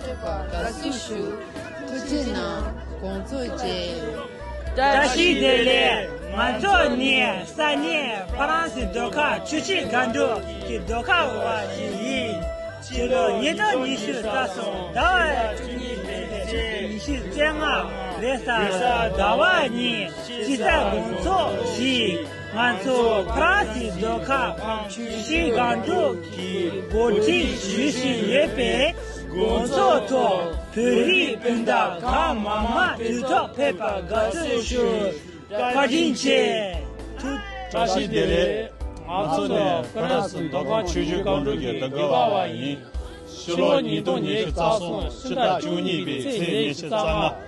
ཐོས་པ་དགའ་བསུ་ཞུ། ཐུགས་རྗེ་གནང་དགོངས་རྫོགས་རྗེས། བཀྲ་ཤིས་བདེ་ལེགས་ང་ཚོ་ནི་ས་གནས་ཧྥ་རན་སི་ཟློས་གར་ཆུ་བྱི་དགའ་འབྲུག་གི་ཟློས་གར་བ་ཞིག་ཡིན། ཕྱི་ལོ་ཉིས་སྟོང་ཉི་ཤུ་རྩ་གསུམ་ཟླ་བ་བཅུ་གཉིས་པའི་ཚེས་ཉི་ཤུ་རྩེ་ལྔ་རེས་གཟའ་ཟླ་བ་གཉིས་དཔྱིད་གསར་དགོང་ཚོགས་བཞིན་ང་ཚོ་ཧྥ་རན་སི་ཟློས་གར་ཁང་ཆུ་བྱི་དགའ་འབྲུག་གིས་འགོ་ཁྲིད་ཞུས་བཞིན་ཡོད་པས། དགོང་ཚོགས་ཐོག་བོད་རིགས་སྤུན་ཟླ་གང་མང་མ་དུས་ཐོག་ཕེབས་པར་དགའ་བསུ་ཞུ། བཀའ་དྲིན་ཆེ། ཐུགས། བཀྲ་ཤིས་བདེ་ལེགས། ང་ཚོ་ནས་བྷི་ར་སི་མདོ་ཁམས་ཆོས་བརྒྱུད་སྒང་དྲུག་གི་དགེ་བ་བ་ཡིན། ཕྱི་ལོ་ཉིས་སྟོང་ཉེར་བཅུ་རྩ་གསུམ་ཕྱི་ཟླ་བཅུ་གཉིས་པའི་ཚེས་ཉེར་བཞི་རྩ་ལྔ།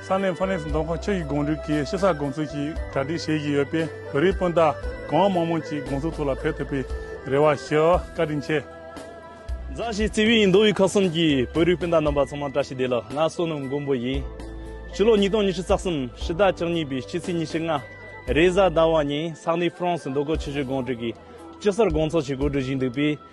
ས་གནས་ཧྥ་རན་སི་མདོ་ཁོངས་ཕྱོགས་བཞི་གོང་རིམ་གྱི་ཤི་ས་དགོངས་ཚུལ་ཞིག་གྲ་སྒྲིག་བྱེད་བཞིན་ཡོད་པས་བོད་རིགས་སྤུན་ཟླ་གང་མང་མང་ཅིག་དགོངས་ཚུལ་ཐོག་ལ་ཕེབས་ཐུབ་པའི་རེ་བ་ཞུ་བཀའ་དྲིན་ཆེ། མཛའ་བཤེས་བརྩེ་བའི་མདོ་དབུས་ཁག་གསུམ་གྱི་བོད་རིགས་སྤུན་ཟླ་རྣམ་པ་ཚང་མ་བཀྲ་ཤིས་བདེ་ལགས་ང་བསོད་ནམས་མགོན་པོ་ཡིན། ཕྱི་ལོ་ཉིས་སྟོང་ཉི་ཤུ་རྩ་གསུམ་ཕྱི་ཟླ་བཅུ་གཉིས་པའི་ཕྱི་ཚེས་ཉི་ཤུ་ལྔ་རེས་གཟའ་ཟླ་བ་ཉིན་ས་གནས་ཧྥ་རན་སི་མདོ་ཁོངས་ཕྱི་བཞི་གོང་རིམ་གྱི་ཤི་སར་དགོངས་ཚོགས་ཆེད་གོ་སྒྲིག་བཞིན་འདུག་པས།